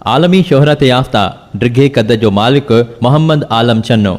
عالمي شهرت يافته ڊگهي قد جو مالڪ محمد عالم چنو،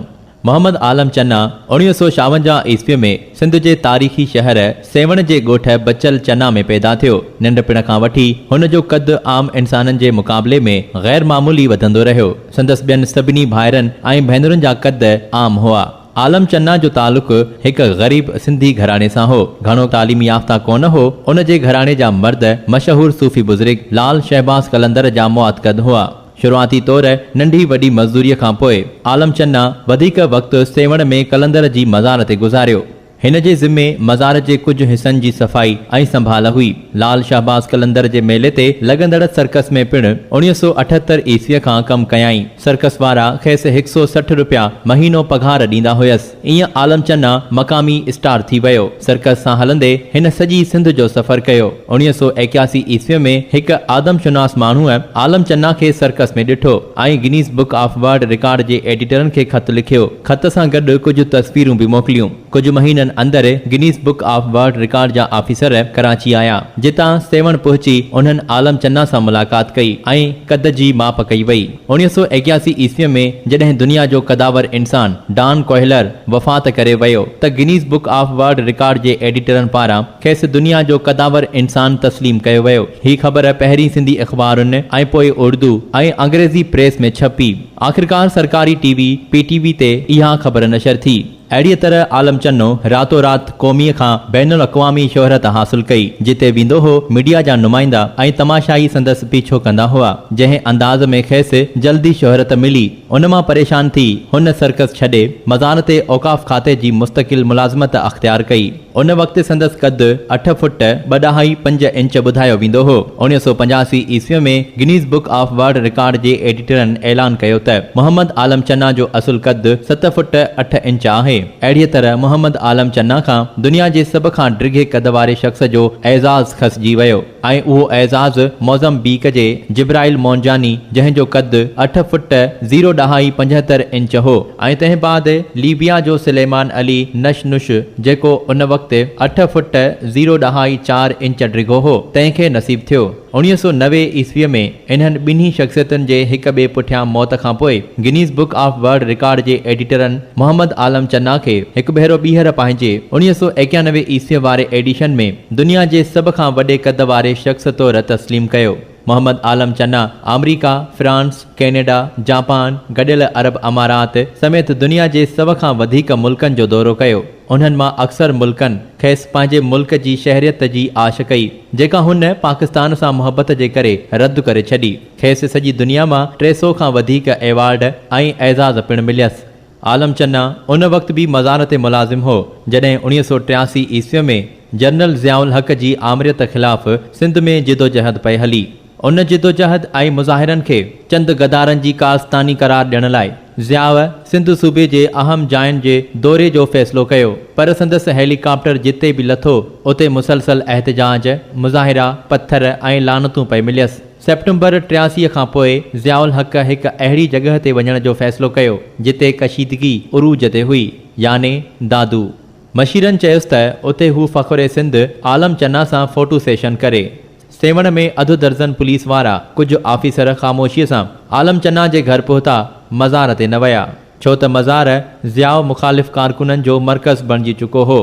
محمد عالم چنا، اوڻيهه سؤ ڇاونجاهه عيسويء ۾ سنڌ جي تاريخي شهر سيوهڻ جي ڳوٺ بچل چنا ۾ پيدا ٿيو. ننڍپڻ کان وٺي هن جو قد عام انسانن جي مقابلي ۾ غير معمولي وڌندو رهيو. سندس ٻين سڀني ڀائرن ۽ ڀينرن جا قد عام هئا. عالم چنا جو تعلق هڪ غريب سنڌي گهراڻي سان هو. گهڻو تعليم يافته ڪونه هو. ان جي گهراڻي جا مرد مشهور صوفي بزرگ لعل شهباز قلندر جا معتقد هئا. شروعاتي طور ننڍي وڏي مزدوريء کان پوء عالم چنا وڌيڪ وقت سيوهڻ ۾ قلندر جي مزار تي گذاريو. هن جي ذمي مزار جي ڪجهه حصن جي صفائي ۽ سنڀال هئي. لعل شهباز قلندر جي ميلي تي لڳندڙ سرڪس ۾ پڻ اڻيهه سؤ اٺهتر عيسويء کان ڪم ڪيائين. سرڪس وارا کيس هڪ سو سٺ رپيا مهينو پگهار ڏيندا هيس. ايئن عالم چنا مقامي اسٽار ٿي ويو. سرڪس سان هلندي هن سڄي سنڌ جو سفر ڪيو. اڻيهه سؤ ايڪياسي عيسويء ۾ هڪ آدم شناس ماڻهوء عالم چنا کي سرڪس ۾ ڏٺو ۽ Guinness book of world record جي ايڊيٽرن کي خط لکيو. خط سان گڏ ڪجهه تصويرون به موڪليون. ڪجهه مهينن اندر Guinness book of world record جا آفيسر ڪراچي آيا، جتان سيوهڻ پهچي انهن عالم چنا سان ملاقات ڪئي ۽ قد جي ماپ ڪئي وئي. اوڻيهه سؤ ايڪياسي عيسويء ۾ جڏهن دنيا جو قداور انسان ڊان ڪوهلر وفات ڪري ويو ته Guinness book of world record جي ايڊيٽرن پاران کيس دنيا جو قداور انسان تسليم ڪيو ويو. هي خبر پهرين سنڌي اخبارن ۽ پوء اردو ۽ انگريزي پريس ۾ ڇپي. آخرڪار سرڪاري T V P T V تي اها خبر نشر ٿي. اهڙيء طرح عالم چنو راتو رات قوميء کان بين الاقوامي شهرت حاصل ڪئي، جتي ويندو هو، ميڊيا جا نمائندا ۽ تماشائي سندس پيڇو ڪندا هئا، جنهن انداز ۾ کيس جلدي شهرت ملي، ان مان پريشان ٿي، هن سرڪس ڇڏي، مزار تي اوقاف کاتي جي مستقل ملازمت اختيار ڪئي. ان وقت سندس قد اٺ فٽ ٻه ڏهائي پنج انچ ٻڌايو ويندو هو. اڻيهه سؤ پنجاسي عيسويء ۾ Guinness book of world record جي ايڊيٽرن اعلان ڪيو ته محمد عالم چنا جو اصل قد ست فٽ اٺ انچ آهي. اهڙيء طرح محمد عالم چنا کان دنيا جي سڀ کان ڊگهي قد واري شخص جو اعزاز کسجي ويو. ۽ اهو اعزاز موزمبيق جي جبرائيل مونجاني جنهن جو قد اٺ فٽ زيرو ڏهائي پنجهتر انچ هو ۽ تنهن بعد ليبيا جو سليمان علي نش نش جيڪو ان وقت اٺ فٽ زيرو ڏهائي چار انچ ڊگهو هو تنهن کي نصيب ٿيو اوڻيهه سؤ نوي عيسويء ۾ انهن ٻنهي شخصيتن جي هڪ ٻئي پٺيان موت کان پوء Guinness book of world record جي ايڊيٽرن محمد عالم چنا کي هڪ ڀيرو ٻيهر پنهنجي اوڻيهه سؤ ايڪيانوي عيسويء واري ايڊيشن ۾ دنيا جي سڀ کان وڏي قد واري شخص طور تسليم ڪيو. محمد عالم چنا آمريڪا، فرانس، ڪينيڊا، جاپان، گڏيل عرب امارات سميت دنيا جي سو کان وڌيڪ ملڪن جو دورو ڪيو. انهن مان اڪثر ملڪن کيس پنهنجي ملڪ جي شهريت جي آڇ ڪئي، جيڪا هن پاڪستان سان محبت جي ڪري رد ڪري ڇڏي. کيس سڄي دنيا مان ٽي سو کان وڌيڪ ايوارڊ ۽ اعزاز پڻ مليس. عالم چنا ان وقت به مزار تي ملازم هو، جڏهن اوڻيهه سؤ ٽياسي عيسوي ۾ جنرل ضياء الحق جي آمريت خلاف سنڌ ۾ جدوجهد پئي هلي. ان جدوجهد ۽ مظاهرن کي چند غدارن جي ڪارستاني قرار ڏيڻ لاء ضياء سنڌ صوبي جي اهم جاين جي دوري جو فيصلو ڪيو، پر سندس هيلي ڪاپٽر جتي به لٿو، اتي مسلسل احتجاج، مظاهرا، پٿر ۽ لعنتون پئي مليس. سيپٽمبر ٽياسي کان پوء ضياء الحق هڪ اهڙي جڳهه تي وڃڻ جو فيصلو ڪيو، جتي ڪشيدگي عروج تي هئي، يعني دادو. مشيرن چيس ته اتي هو فخر سنڌ عالم چنا سان فوٽو سيشن ڪري. سيوهڻ ۾ اڌ درزن پوليس وارا ڪجهه آفيسر خاموشيء سان عالم چنا جي گهر پهتا، مزار تي نه ويا، ڇو ته مزار ضياء مخالف ڪارڪنن جو مرڪز بڻجي چڪو هو.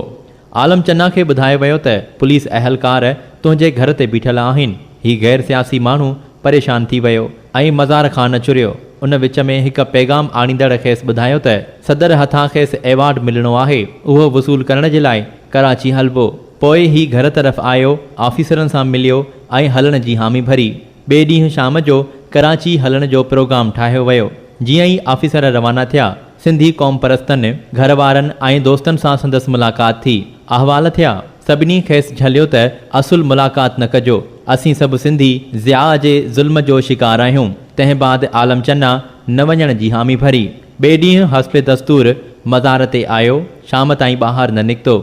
عالم چنا کي ٻڌايو ويو ته پوليس اهلڪار تنهنجي گهر تي بيٺل آهن، هي غير سياسي ماڻهو پريشان ٿي ويو ۽ مزار خان چريو، ان وچ ۾ هڪ پيغام آڻيندڙ کيس ٻڌايو ته صدر هٿان کيس ايوارڊ ملڻو آهي، اهو وصول ڪرڻ جي لاء ڪراچي هلبو، پوء هي گهر طرف آيو، آفيسرن سان مليو ۽ هلڻ جي حامي ڀري، ٻئي ڏينهن شام جو ڪراچي هلڻ جو پروگرام ٺاهيو ويو، جيئن ئي آفيسر روانا ٿيا، سنڌي قومپرستن، گهر وارن ۽ دوستن سان سندس ملاقات ٿي. احوال ٿيا. سڀني کيس جهليو ته اصل ملاقات نه ڪجو. اسين سڀ سنڌي ضياء جي ظلم جو شڪار آهيون. تنهن بعد عالم چنا نه وڃڻ جي حامي ڀري. ٻئي ڏينهن حسب دستور مزار تي آيو. شام تائين ٻاهر نه نڪتو.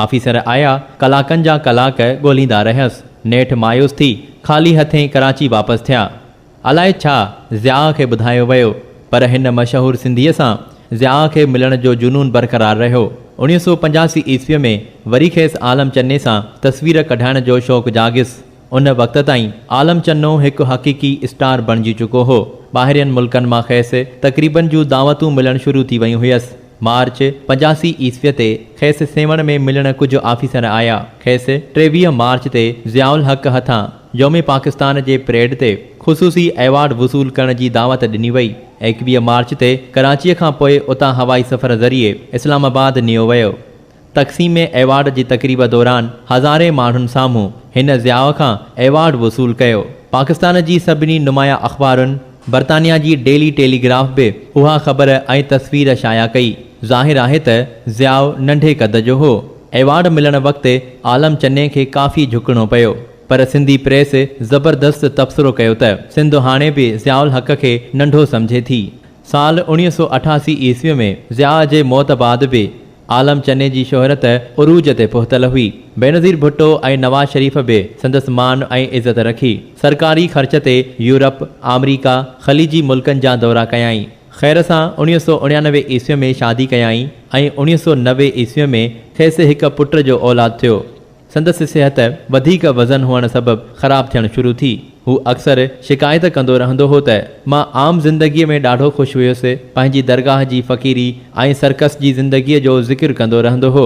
آفيسر آيا، ڪلاڪن جا ڪلاڪ ڳولهيندا رهيس. نيٺ مايوس ٿي خالي هٿين ڪراچي واپس ٿيا. الائي ڇا ضياء کي ٻڌايو ويو پر هن مشهور سنڌيء سان ضياء کي ملڻ جو جنون برقرار رهيو. اوڻيهه سؤ پنجاسي عيسويء ۾ وري کيس عالم چني سان تصوير ڪڍائڻ جو شوق جاڳيس. ان وقت تائين عالم چنو هڪ حقيقي اسٽار بڻجي چڪو هو. ٻاهرين ملڪن مان کيس تقريبن جون دعوتون ملڻ شروع ٿي ويون هيس. مارچ پنجاسي عيسويء تي کيس سيوهڻ ۾ ملڻ ڪجهه آفيسر آيا. کيس ٽيويهه مارچ تي ضياء الحق هٿان يوم پاڪستان جي پريڊ تي خصوصي ايوارڊ وصول ڪرڻ جي دعوت ڏني وئي. ايڪويهه مارچ تي ڪراچيء کان پوء اتان هوائي سفر ذريعي اسلام آباد نيو ويو. تقسيم ايوارڊ جي تقريب دوران هزارين ماڻهن سامهون هن ضياء کان ايوارڊ وصول ڪيو. پاڪستان جي سڀني نمايان اخبارن، برطانيا جي ڊيلي ٽيلي گراف به اها خبر ۽ تصوير شايع ڪئي. ظاهر آهي ته ضياء ننڍي قد جو هو. ايوارڊ ملڻ وقت عالم چني کي ڪافي جهڪڻو پيو. پر سنڌي پريس زبردست تبصرو ڪيو ته سنڌ هاڻي به ضياء الحق کي ننڍو سمجهي ٿي. سال اوڻيهه سؤ اٺاسي عيسويء ۾ ضياء جي موت بعد به عالم چني جي شهرت عروج تي پهتل هئي. بينظير ڀٽو ۽ نواز شريف به سندس مان ۽ عزت رکي. سرڪاري خرچ تي يورپ، آمريڪا، خليجي ملڪن جا دورا ڪيائين. خير سان اوڻيهه سؤ اڻيانوي عيسويء ۾ شادي ڪيائين ۽ اوڻيهه سؤ نوي عيسويء ۾ کيس هڪ پٽ جو اولاد ٿيو. سندس صحت وڌيڪ وزن هئڻ سبب خراب ٿيڻ شروع ٿي. هو اڪثر شڪايت ڪندو رهندو هو ته، مان عام زندگيء ۾ ڏاڍو خوش هيس، پنهنجي درگاهه جي فقيري ۽ سرڪس جي زندگيء جو ذڪر ڪندو رهندو هو.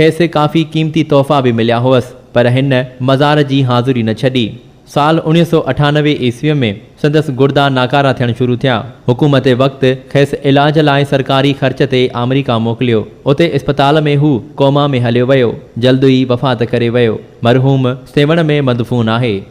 کيس ڪافي قيمتي تحفا به مليا هئس، پر هن مزار جي حاضري نه ڇڏي. سال اوڻيهه سؤ اٺانوي عيسويء ۾ سندس گردا ناڪارا ٿيڻ شروع ٿيا. حڪومت وقت کيس علاج لاء سرڪاري خرچ تي آمريڪا موڪليو. اتي اسپتال ۾ هو ڪوما ۾ هليو ويو. جلد ئي وفات ڪري ويو. مرحوم سيوهڻ ۾ مدفون آهي.